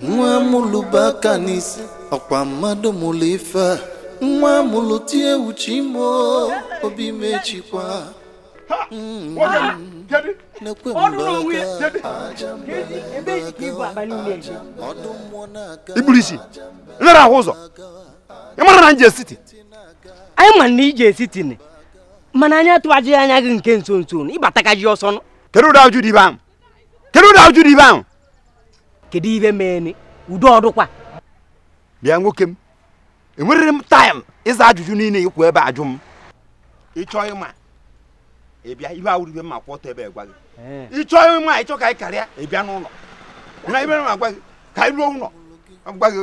nwa mụlụba aka n'isi ọkwa mmadụ mụlụ ife a nwa mụlụ tie uche ime obi mechikwa nekwe iburu isi nlere ahụ ụzọ ị mara na nje city anyị ma na i je city ni mana anyị atụghaji anya gị nke nso nso ị batakaji ọsọ kedu ụdị ajụ dị ibe ahụ kedu ụdị ajụ dị ibe ahụ kedu ibe meeni udo ọdụkwa bịa nwoke m enwerịrị m time ịza ajụjụ niile ị kwụ ebe a ajụ m ị chọọ ịma ị bịa ihe awụrọ ibe m ma kwụ ọtọ ebe a gwa gị ị chọọ ịma ị chọọ ka anyị karịa ị bịa n'ụlọ na be m agwa gị ka anyị ruo ụlọ agwa gị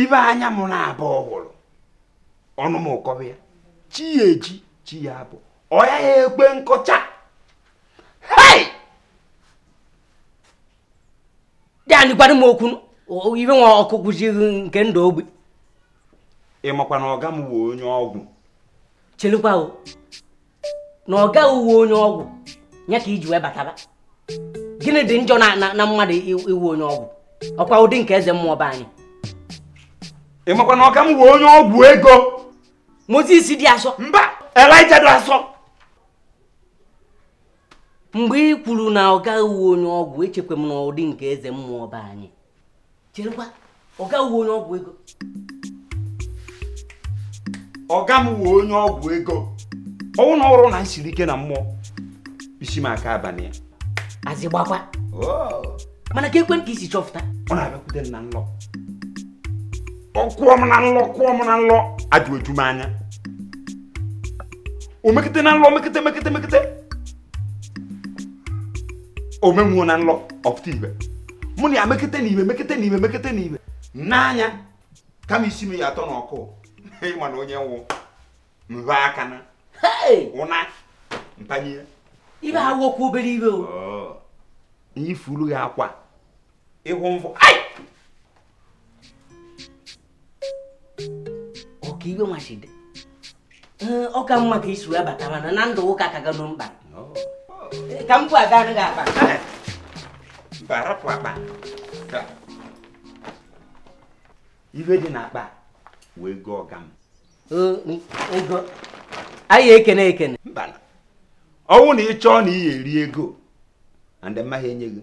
ibe anya m nabọ hụrụ ọnụ m akọba ya chi ya eji chi ya abọ ọ ya ya ekwe nkọcha hei di anyị gwara m okwu ibe nwa ọkụ kwụzighị nke ndụ ogbe ị makwa na ọga m wụ onye ọgwụ chelukwa o na ọga ghị wụ onye ọgwụ ya ka i ji wee bataba gịnị dị njọ na na- na mmadụ i- ịwụ onye ọgwụ ọ kwa ụdị nke eze mmụọ be anyị ị makwa na ọga m wụ onye ọgwụ ego moses dị asọ mba elijah dị asọ mgbe ị kwuru na ọga ghị wụ onye ọgwụ echekwa m na ụdị nke eze mmụọ be anyị cherekwa ọga ị wụ onye ọgwụ ego ọga m wụ onye ọgwụ ego ọ wụ na ọrọ na nsiri ike na mmụọ isi m aka abalị ya azị gbakwa oh. mana kee kwenị ka i si chọfụta ọ na-abịakwute m na nlọ ọ kụọ m na nlọ kụọ m na nlọ ajụ eju m anya o mekete na nlọ mekete mekete mekete o menwuo na nlọ ọ pụta ibe mụ na ya mekete na ibe mekete na ibe mekete na ibe n'anya kama isi m ya atọ n'ọkụ ị ma na onye nwụ mba aka na ụna ntanye ibe ha wokwu obere ibe o oh. i furu ya akwa ịhụ mvụ ọka ibe nwachide ee ọ ka mma ka i si wee bata mana na ndụ ụka ka gado mkpa Ee, ka m bụ aga anaghị akpa mba rapụ akpa Ka. ife dị n'akpa wụ ego ọga m Ee, m- ego anyị ekene ekene mba na ọ wụ na ị chọọ na ị ga-eri ego and m maghị enye gị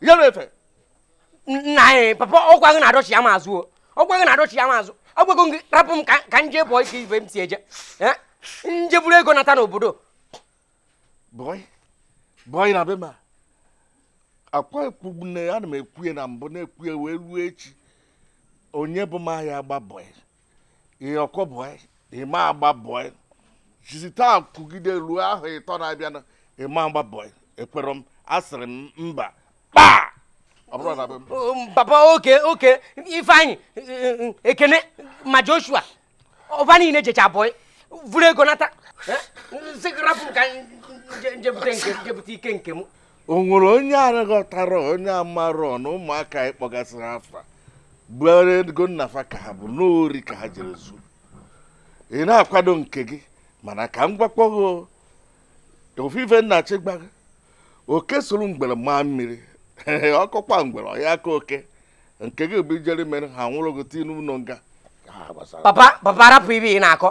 yere efe nna anyị papa ọkwa gị na-adọchi ya ma azụ o ọkwa gị na-adọchi ya ma azụ agwago gị rapụ m ka m je bọị eke ibe m si eje eh? m je buru ego nata n'obodo bọị bọị na be m a kwa ekwu nne ana m ekwu ya na mbụ na-ekwu ya wee ruo echi onye bụ ma ya agba bọị ihe ọkọ bọị ị ma agba bọị jizi taa kwugide ruo ahọ ịtọ na-abịa na ị ma agba bọị ekwerọ m asịrị m mba kpaa ọ bụrọ na be m Um, papa oke oke ifeanyị eh, eh, ekene ma joshua ọba niile jecha bọị vuru ego nata Eh, sị gị rapụ m ka m je- je bute nke- je bute ike nke m o nwere onye aghọtarọ onye amarọ na ụmụaka a ị kpọgasịrị afa bụ ego nna fa ka ha bu na ori ka ha jere zuo ị na-akwado nke gị mana ka m gwakwa gị o, ofu ife m na-achọ ịgwa gị oke soro ngwere maa mmiri ọ kọkwa ngwere ọ ya-akọ oke nke gị bụ i jere mere ha nwụrụ gị tii n'ụlọ nga papa papa rapụ ife ị na-akọ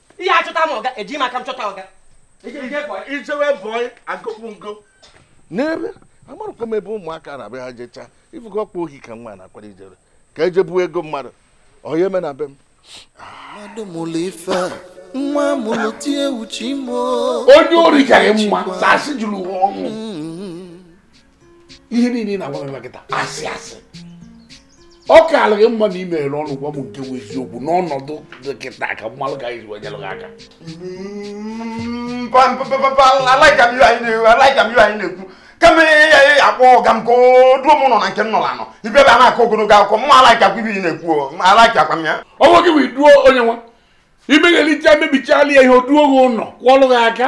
ihe achọta m ọga eji m aka m chọta ọga i jewe bọị agụpụ m gị n'ebe amarọkwa m ebe ụmụaka na-abịa ha jechaa ị fụgo ọkwa ohi ka nwa a na-akwado ijere ka e je buo ego mmadụ ọ ya-eme na be m mmadụ mụrụ ife nwa mụrụ tie uche imo onye ori ka gị mma asị juru ụwa ọnụ ihe niile ị na-agwa m kịta asị asị ọ kaalụ gị mma na ị meghere ọnụ gwa m nke bụ eziokwu n'ọnọdụ dị kịta ka m malụ ka a ya-eji wee nyelụ gị aka alaika m ihe anyị na-ekwu kama ihe ya ya akpọ ọga m ka o duo m nọ na nke m nọrọ anọ ibe ebe a na-akọ ogologo akụkọ mma alaika kwa ife ị na-ekwu alaika kwa m ya ọ nweghị bụ iduo onye nwa i meghelicha mebichalụ ya ihe o duo gị ụlọ kụọlụ gị aka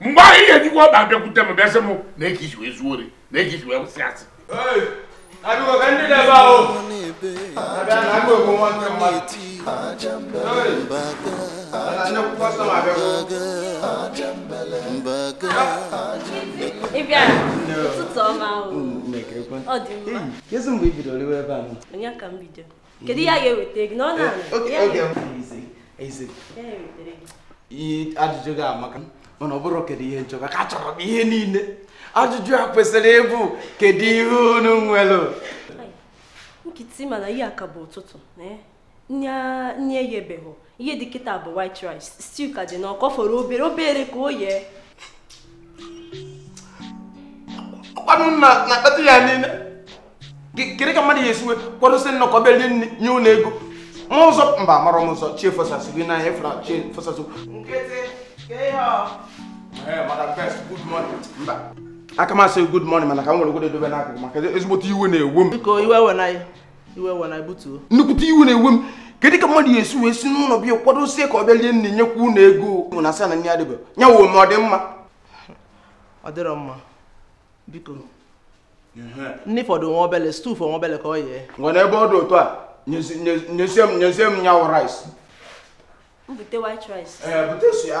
mgbe ahụ ị ya-ejikwa ọkpa abịakwute m bịa sị m na eke i si wee zuo ori na eke i si wee kwụsị asị ị bịara ụtụtụ ọma ahụ ọ dị mma kedu mgbe i bidoro iwe ebe a ụnyaa ka m bido kedu ihe a ga-eweta gị n'ọnụ ajụjụ gị amaka mana ọ bụrọ kedu ihe m chọ maka achọrọ m ihe niile ajụjụ a kwesịrị ịbụ kedu ihe unu nwere kịta mana ihe a ka bụ ụtụtụ nye ya ebeghị ihe dị kịta bụ white rice stew ka dị n'ọkụ fọrọ obere obere ka o yee ọkwa unu na-akpata ya niile kedu ka mmadụ ya-esi wee kwadosi nnọkọ bịa rie nri nye unu ego ma ụzọ mba mara m ụzọ chi efosasị gị na ihe fụra chi efosasị aka m asị good morning mana ka m were godu ya dobe n'akụkụ maka ezigbote iwe na-ewe m iwe ewena butuo nnukwute iwe na-ewe m kedu ka mmadụ ya-esi wee si n'ụlọ bịa kwadosie ka ọ bịa lie nni nyekwa unu ego unu ana-asị na nni adịbe ya wụ ma ọ dị mma ọ dịrọ mma biko nni fọdụ nwa obele stew fọ nwa obele ka o yee ngwa n'ebe ọ dị otu a nyezie m nyezie m nya wụ rice bute white rice ee eh, bute sọ ya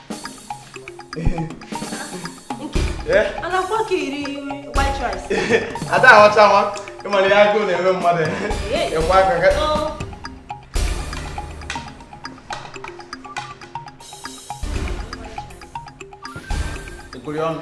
ada ahọcha nwa ị mara ihe agụụ na-eme mmadụ ịkwa aka ga-ekwuri ọnụ.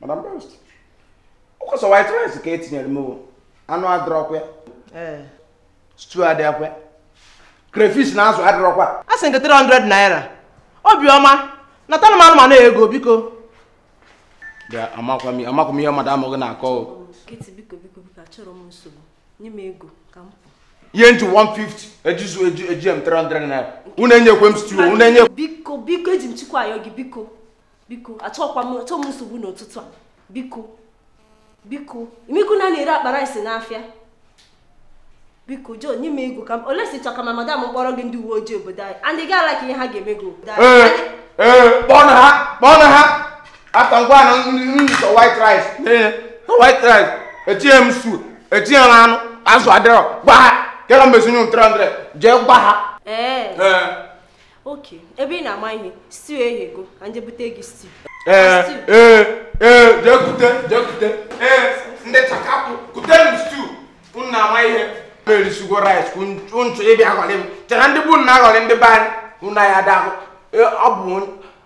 madam best ọ kwa sọ white rice ka e tinyere m anụ adịrọkwa eh. stew adịrọkwa crayfish na azụ adịrọkwa a sị nke 300 naira obiọma natara m anụmanụ ego biko amakwa m ihe madam gị na-akọ nye m ego ka m pụ ihe m ji 150 ejizu eji eji m 300 naira unu enyekwe m stew unu enye biko biko eji m chukwu ayọ gị biko biko achọkwa m achọ m nsogbu n'ụtụtụ a biko biko ị makwa ọnụ a na-ere akpa rice n'afịa biko jo nye m ego ka m unless ị chọ ka ma madam kpọrọ gị ndị uwe ojii obodo anyị andị gị ala ka ihe ha ga-eme gị obodo anyị ee ee kpọọ na ha kpọọ na ha after ngwa na nso white rice ee white rice etinye m stew etinye m anụ azụ adịrọ gwa ha kera mezinye m 300 jee gwa ha ee okay ebe ị na-ama ihe stew eghego ka m je bute gị stew ee ee ee jee kute jee kute ee ndị chakapụ kute m stew unu na-ama ihe m erisigo rice unu chọ ịbịa aghọrị m chara ndị bụ na-aghọrị ndị be anyị unu anyị ada ahụ ọ bụ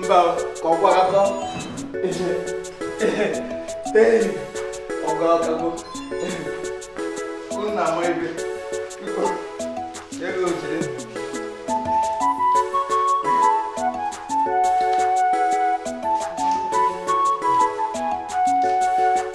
mba ka ọ gwara akọ ọgọ ọgago nna m ebe biko ego jiri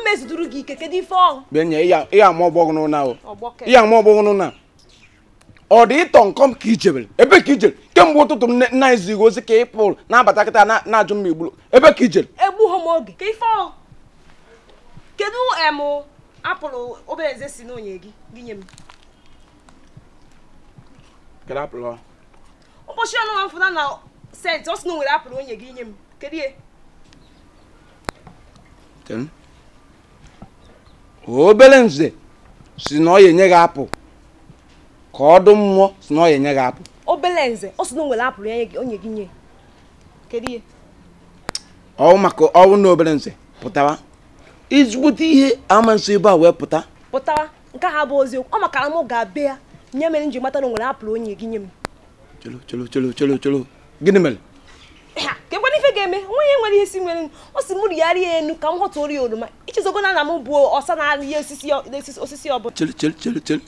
mmeziduru gị ike kedu ife ọ wụ benye ị ya ama ọ bụ gụnụ naa o ị ya ama ọ bụ gụnụ naa ọ dị ịtọ nkọm ka i jebere ebe ka i jere kemgbe ụtụtụ m na-ezi gị ozi ka ị pụrụ na-abata kịta na-ajụ m ma i gburu ebe ka i jere egbughị m oge kedu ife ọ wụ kedu em apple obere nze sị na o nye gị gị nye m kedu apple ụbọchị ọnụ nwa mfụna na sent ọ sị na o nwere apple o nye gị nye m kedu ihe obere nze sị na ọ ya enye gị apple ka ọ dụ mmụọ sị na ọ ya enye gị apple obere nze ọ sị na o nwere apple ya o nye gị nye kedu ihe ọ wụ maka ọ wụ na obere nze pụtawa izigbote ihe ama nso ebe a wee pụta pụtawa nke ha bụ eziokwu ọ makara m ga-abịa nya mere m ji mata na o nwere apple o nye gị nye m cholo cholo cholo cholo cholo gịnị mere kekwanụ ife ga-eme nwunye nwere ihe isi nwere ọ sị mụ rịa rịa enu ka m ghọtara gị oroma i chezogo na na m bụ ọsa na-arị ihe osisi ọbụla chere chere chere chere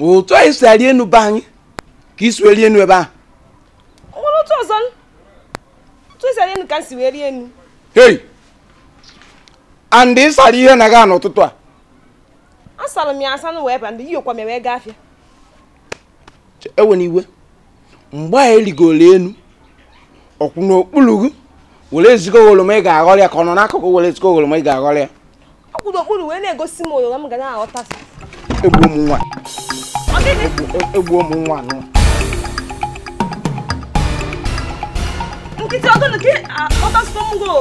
otu anyị si arị enu be anyị ka i si wee rịa enu ebe ahụ nwere otu ọzọ otu e si arị enu ka m si wee rịa enu hei and ị sara ihe na gị n'ụtụtụ a asara m ya asa na wee ba ndị yiyokwa m wee gaa afịa ewe na iwe mgbe a ị rigoro enu ọ kwụ n'okpuru gị were zi gị oroma ị ga-aghọrọ ya ka ọ nọ n'akụkụ were zi gị oroma ị ga-aghọrọ ya ọ kwụ n'okpuru wee na-egosi m oroma m ga na-aghọta egbuo m nwa egbuo m nwa nụ nkịtị ọ gụnụ ka ọtasịkwa m goo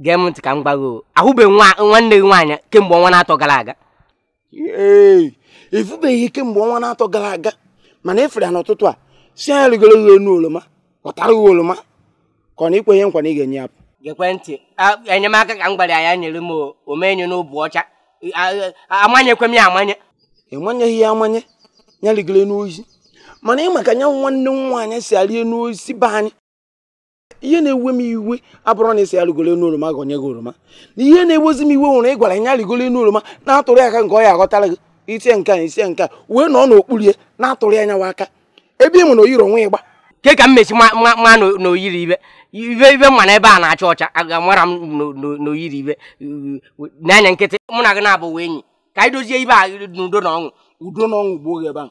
gee m ntị ka m gwa gị o ahụbeghị nwa nwanne gị nwaanyị kemgbe ọnwa na-atọ gara aga ee ị fụbeghị ya kemgbe ọnwa na-atọ gara aga mana ị fụrụ ya n'ụtụtụ a sị nya rigoro gị enu oroma ghọtara gị oroma ka ọ na i kwe ya nkwa na ị ga-enye ya apple gekwe ntị a- enyemaka ka m gwara ya ya nyere m o- o mee nya n'obi ọcha A- a- amanyekwe m ya amanye ị manyeghị ya amanye ya rigoro enu osisi mana ị ma ka nyanwa nwanne m nwaanyị si arị enu osisi be anyị ihe na-ewe m iwe abụrọ na ị sị ya rigoro enu oroma ghọnye gị oroma na ihe na-ewezi m iwe nwere ị gwara ya rigoro enu oroma na-atụrụ aka nke ọ ya aghọtara gị i tie nke a i tie nke a wee nọ n'okpuru ya na-atụrụ ya nyawa aka ebe ị ma na o yiri uwe ịgba ke ka m esi ma na o yiri ibe ibe ibe mma na ebe a na-acha ọcha aga mara m na o yiri ibe n'anya nkịtị mụ na gị na-abụ enyi ka anyị dozie ife a n'udo na ọṅụ udo na ọṅụ gbuo gị ebe ahụ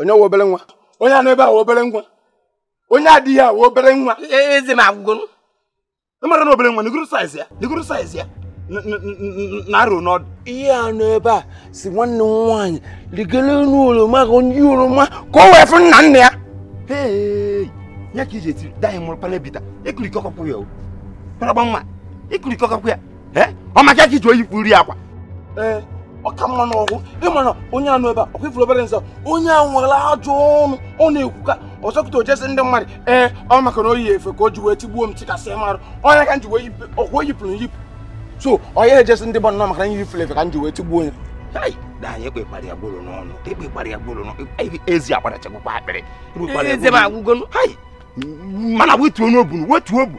onye wụ obere nwa onye a nọ ebe a wụ obere nwa onye a adịghị awụ obere nwa eze m agwụgwụ ị mara na obere nwa nigoro saiz ya nigoro saiz ya na-arụ n'ọdụ ihe a nọ ebe a sị nwanne m nwaanyị rigoro elu oroma ka onye oroma ka o wee fụ nna nna ya ya ka iji etiri daghị mụrụ palebita ekurikọkọkwụ ya o paragba nwa ekurikọkọkwụ ya ọ maka ka iji o yipụrụ akwa ee ọ ka mma n'ọgwụ ị ma na onye a nọ ebe a ọ kwa ị fụrụ obere nsọ onye a nwere ajọ ọnụ ọ na-ekwuka ọzọkụta o je sị ndị mmadụ ee ọ maka na o yi efe ka o ji wee tigbuo m tikasị marụ onye ka m ji wee ọ kwa o yipụrụ yipụ so onye e je sị ndị mmadụ na ọ maka na yipụrụ efe ka m ji wee tigbuo onye anyị ekpekpara ya gboro n'ọnụ ekpekpara ya gboro n'ọnụ ezi agbara chekwa akpịrị mana wetuonu obu wetuo obu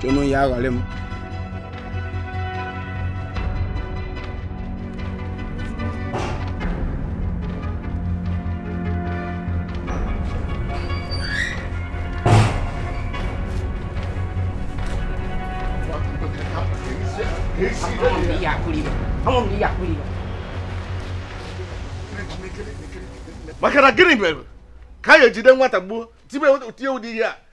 chenu ya aghọrị m maka na gịnị mere ka a ga-ejide nwata gbuo tie ụdị ihe a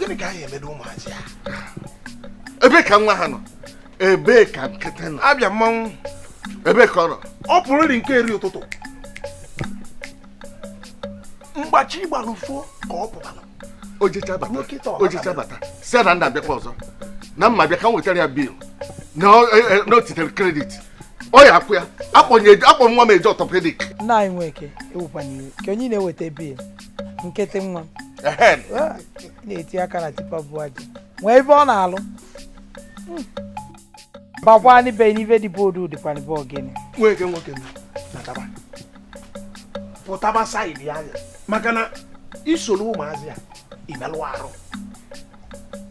gịnị ka anyị emedo ụmụazị a ebee ka nwa ha nọ ebee ka nkịtị nọ abịa mmanwụ ebee ka ọ nọ ọ pụrụ eri nke eri ụtụtụ mgbe chi gbara ụfọ ka ọ pụtara o jecha bata o jecha bata sị na nna abịakwa ọzọ na m abịa ka m wetara ya bil na o e, e, titere kredit ọ ya akwụ ya akpọ nwa m eje ọtọpedik nna anyị nweke ewukwana iwe ka onye na-eweta bil nkịtị nwa na-eti aka na tipa bu aja nwee ebe ọ na-alụ hmm. bakwa n'ibe n'ibe dị boodu dịkwa n'ibe ogene nwoke nwoke nataba pụtaba saịdị anyị a maka na i soro ụmụazị a i melụ arụ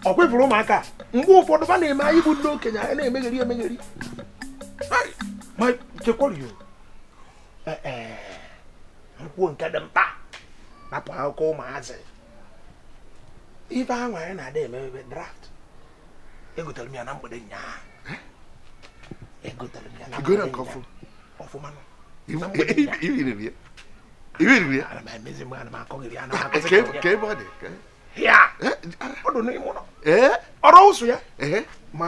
ọ kwa ị fụrụ ụmụaka mgbe ụfọdụ ba na-eme anyị bụ ndị okenye anyị na-emegheri emegheri chekwara kwuo nke dị mkpa rapụ akụkọ ụmụazị ife ahụ anyị na-ada emebe draft egotere m ya na mgbede nyaa egotere m ya na mgbede nyaa ọfụma na ọ dụ n'ime ụlọ ọrụ ụsụ ya ma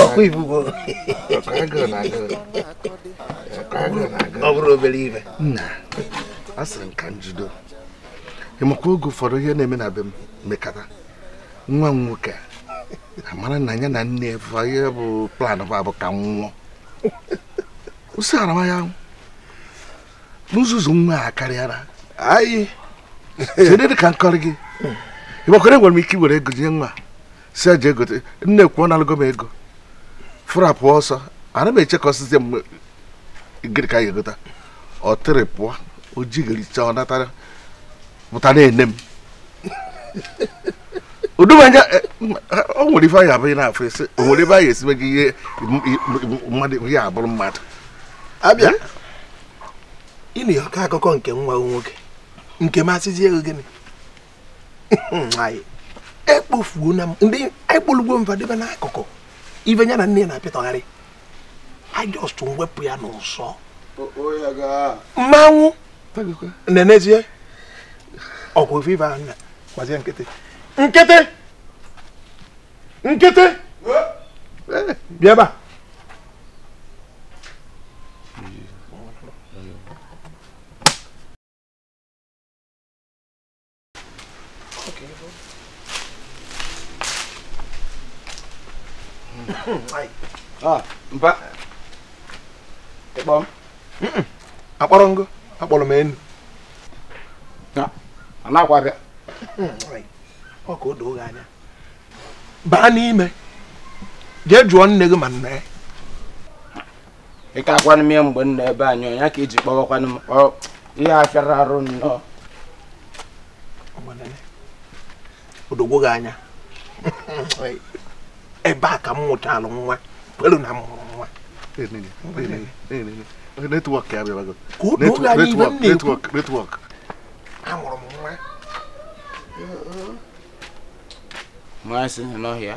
ọkwa ibugo ọ bụrọ obere ife nna a sịrị m ka m jido ị makwa oge ụfọdụ ihe na-eme na be m mekata nwa m nwoke amara na ya na nne fa ihe bụ plan fa bụ ka m nwụọ ụsị arama ya na nzuzu nwa a akarịana anyị site dị ka m kọrọ gị ịgbakwara enwere m ike iwere ego nye nwa sị jee gote m na-ekwu ọ nalụgo m ego fụrụ apụọ ọsọ ana m eche ka ọ sịzie m gịrị ka a ya-egota ọ tịrị pụọ o jegharịcha ọ natara pụta na-ene m odum anya eh, o nwere ife anya abụghị na-afụ esi o nwere ebe anyị esibe gị ihe mmadụ ihe abụrụ mmadụ abịa eh? ịnụ ọkọ akụkọ nke nwa nwoke nke m asịzie ego gịnị ekpofuo na ndị ekpolugo fa debe n'akụkụ ife ya na nne na-apịtọgharị I just wepụ ya n'ụsọ mmanwụ na-enezie ọgwụ viva anya gbazie nkịtị nkịtị nkịtị bịa ebe a Ah, mpa ị kpọ m akpọrọ m gị akpọrọ m enu anakwa bịa ọ ka o doo gị anya baa n'ime jee jụọ nne gị ma nna ya ị ka akwanụ m ya mgbe m nọ ebe anyị ọ nyaa ka i ji kpọwakwanụ m ọ ihe a fịara arụ nnọọ o dogo gị anya ebe a ka m mụchalụ nwa kwelu na m mụrụ nwa network ya bịabago ka o doo gị anya ife m na-ekwu network amụrụ m nwa nwa si n'ọhịa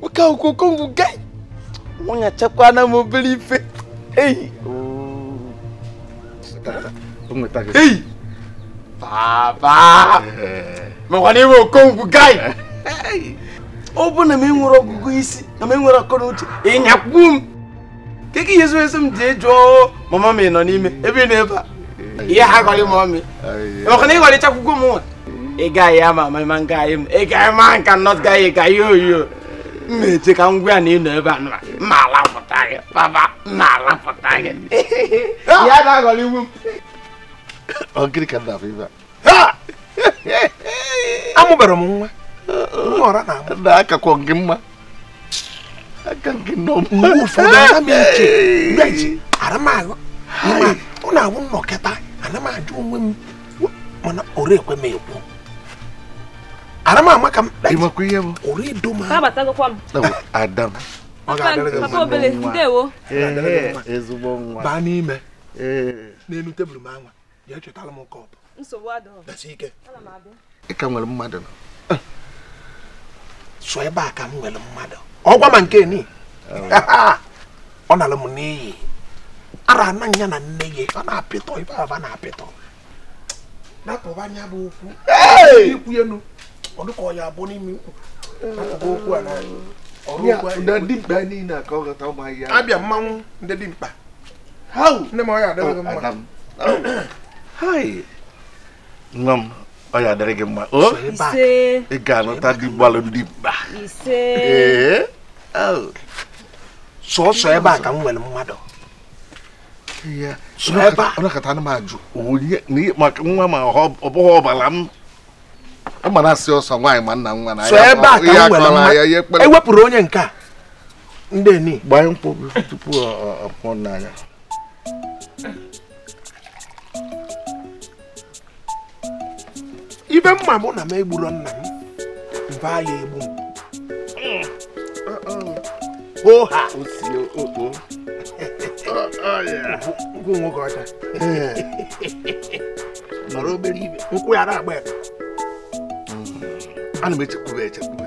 nwoke ahụ okongwu guy nwanya chekwana m obere ife hey hey papa mekwana iwe okongwu guy ọ bụ na m enwerọ ọgụgụ isi na m enwerọ akọ na uche ịnyakwu m kee ka ị ya-asị m jee jụọ mama m nọ n'ime ebe ị nọ ebe a ị ya-agọrị mama m maka na ị gọrịcha akwụkwọ m nwa ị gaghị ama ama ma nga anyị m ị gaghị ma nka nọt gaghị ị gaghị oyo m na-eche ka ngwa ya na ị nọ ebe a nọrọ m alapụta gị papa m alapụta gị ya na-agọrị iwu m ọ gịnị ka m na-afụ ebe a amụbara m nwa nwa ọra na amụ na-akakwa gị mma aka gị nọ mgbe ụfọdụ ana m eche mgbeji ara m ahụ ma ọ na-awụ m nọkata ana m ajụ onwe m mana ọrụ ekwe m ekwu ara m ama ka m kpee ịmakwa ihe bụ ọrụ edo m ahụ abatagokwa m ada m ọ ga-adịrị gị papa obele ndewo Ehe, ezigbo nwa baa n'ime Ee. n'elu tebụl m anwa jee chọtara m kọp nsogbu adịghị dasi ike ana m abịa ị ka nwere mmadụ nọ sọ ebe a ka m nwere mmadụ ọ gwa m nke ni ọ nara m n'iyi ara ana ya na nne ya ọ na-apịtọ ife ahụ a na-apịtọ napụba anya bụ okwu ikwu enu ọ dịka ọ ya abụ n'ime ikwu napụba okwu a na ọrụ okwu a ndị dimkpa niile a ka ọ ghọta ụmụ ahịhịa abịa mmanwụ ndị dimkpa nne m ọ ya-adịrị gị mma nwa m ọ ya-adịrị gị mma o ị ga-anụta di gbalụ dimkpa sọsọ ebe a ka m nwere mmadụ sọ ebe a ọ nọkata ana m ajụ onye maka nwa ma ọ bụghị ọbara m mana sọ ebe a ka m nwere mmadụ ewepụrụ onye nke a ndị eni gbanye nkwụ tupu ọ pụọ n'anya ife m ma bụ na m egburo nna m mba ya egbu m oha nkwụ nwoke ọcha mara obere ibe nkwụ ya na-agba ya ana m echekwube echekwube